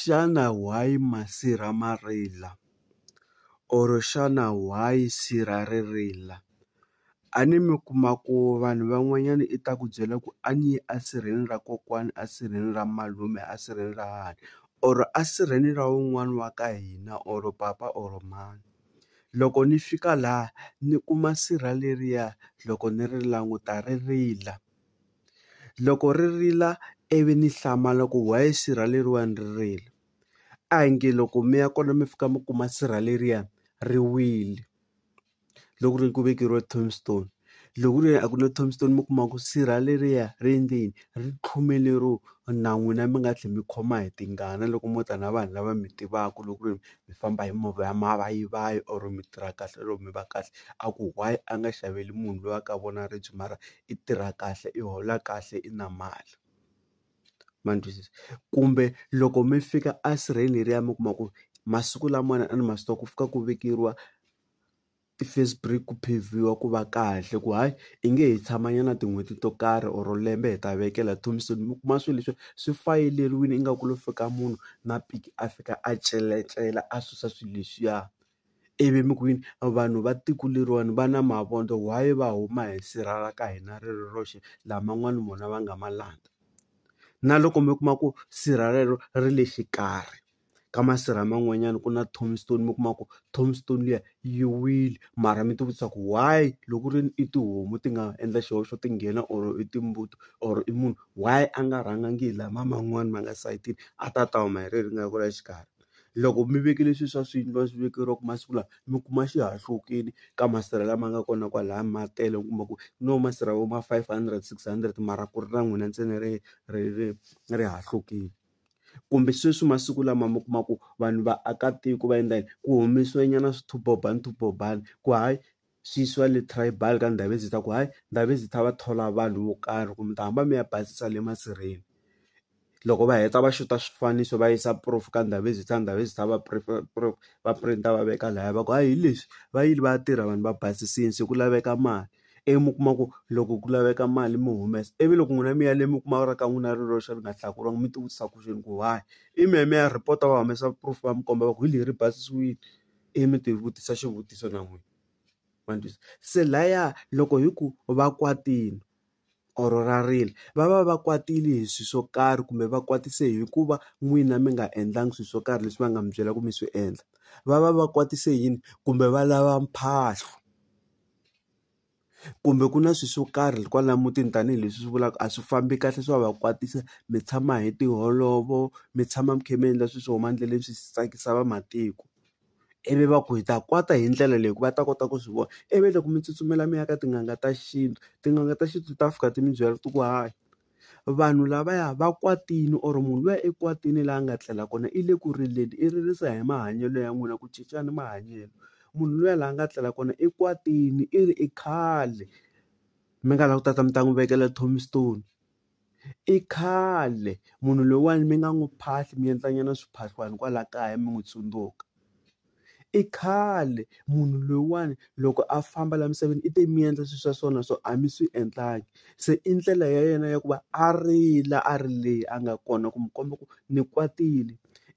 Xana why masirha ma rila or xana why sirha ri rila a ni mi kuma ku vanhu van'wanyana i ta ku byela ku a ni yi a sirheni ra kokwani a sirheni ra malume a sirheni ra hahani or a sirheni ra wun'wani wa ka hina or papa or mhani loko ni fika laha ni kuma sirha leriya loko ni ri languta ri rila. Loko ri rila ivi ni hlamala ku why sirheleriwani ri rila a hi nge loko mi ya kona mi fika mi kuma sirha leriya ri wile loko ri ku vekeriwa tombstone loko ku ri a ku na tombstone mi kuma ku sirha leriya ri endleni ri tlhome lero na n'wina mi nga tlhela mi khoma hi tingana loko mo ta na vanhu lava mi tivaka loko ku ri mi famba hi movha ya mavayivayi or mi tirha kahle or mi va kahle a ku why a nga xaveli munhu loyi a ka vona ribye mara i tirha kahle i hola kahle i na mali ma ni twisisa kumbe loko mi fika a sirheni leriya mi kuma ku masiku lamawani a ni ma swi tiva ku fika ku vekeriwa ti-face burik ku pheviwa ku va kahle ku hayi i nge he tshama nyana tin'hweti to karhi or lembe hi ta vekela ntombisweni mi kuma swilo leswi swi fayeleriwini ingaku lo fika munhu na piki a fika a celecela a susa swilo leswiya. ivi mi ku yini vanhu va tiko leriwani va na mavondzo why va huma hi sirha ra ka hina ri ri roxe laha man'wani vona va nga ma landza na loko mi kuma ku sirha rero ri le xikarhi ka masirha man'wanyana ku na tombstone mi kuma ku tombstone liya yi wile mara mi ti vutisa ku why loko ku ri i tihomu ti nga endla xihoxo ti nghena or i timbuti or i munhu why a nga rhangangi hi lama man'wani ma nga sayitini a ta ta huma hi rero ri nga ku laha xikarhi. loko mi vekile swilo swa swiyindlu a swi vekeriwaka masiku lawa mi kuma xihahlukile ka masirha lama nga kona kwalaya ma tele u kuma ku no masirha vo ma five hundred six hundred mara ku ri na n'wina ntsena ri ri ri ri hahlukile kumbe sweswi masiku lama mi kuma ku vanhu vaakatiko va endla yini ku humesiwe nyana swithubohani swithubohani ku hayi. sesi va le tribal ka Ndhavezitha ta ku hayi Ndhavezitha va thola vanhu vo karhi ku mi ta hamba mi ya basisa le masirheni loko va heta va xuta swifaniso va yisa proof ka Ndhavezitha Ndhavezitha va va print va veka laya va ku hayi hi leswi va yile va ya tirha vanhu va basisini se ku laveka mali ivi mi kuma ku loko ku laveka mali mi humesa ivi loko n'wina mi ya le mi kuma ra ka n'wina ri roxe ri nga hlakuriwanga mi ti vutisa ku why i mi ya mi ya report va humesa proof va mi komba va ku hi leri basisiwile. Ivi mi ti vutisa xivutiso na n'wina ma ni twisa se laya loko hi ku va kwatile or ra rila va va va kwatile hi swilo swo karhi kumbe va kwatise hikuva n'wina mi nga endlangi swilo swo karhi leswi va nga mi byela ku mi swi endla va va va kwatise yini kumbe va lava mphahlo. kumbe ku na swilo swo karhi kwala mutini tanihileswi swi vulaka a swi fambi kahle swa va kwatisa mi tshama hi tiholovo mi tshama mi kha mi endla swilo swo huma endleleni swi tsakisa vamatiko ivi va ku hi ta kwata hi ndlela leyi va ta kota ku swi vona ivi loko mi tsutsumela mi ya ka tin'anga ta xintu tin'anga ta xintu ta fika ti mi byela ti ku hayi. vanhu lavaya va kwatile or munhu luya i kwatile laha a nga tlela kona i le ku rileni i ririsa hi mahanyelo ya n'wina ku cincana mahanyelo munhu luya laha nga tlela kona i kwatile i ri i khale mi nga lava ku tata mi ta n'wi vekela tombstone i khale munhu loyiwani mi nga n'wi phahli mi endla nyana swiphahlwani kwala kaya mi n'wi tsundzuka. i khale munhu loyiwani loko a famba laha misaveni i te mi endla swilo swa so na so a mi swi endlangi se i ndlela ya yena ya ku va a rila a ri leyi a nga kona ku mi komba ku ni kwatile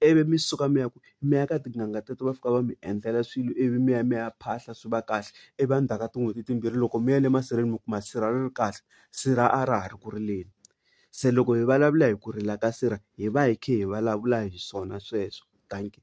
ivi mi suka mi ya ku mi ya ka tin'anga teto va fika va mi endlela swilo ivi mi ya mi ya phahla swi va kahle ivi a ndzhaku ka tin'hweti timbirhi loko mi ya le masirheni mi kuma sirha ri ri kahle sirha a ra ha ri ku rileni se loko hi vulavula hi ku rila ka sirha hi va hi kha hi vulavula hi swona sweswo dankie.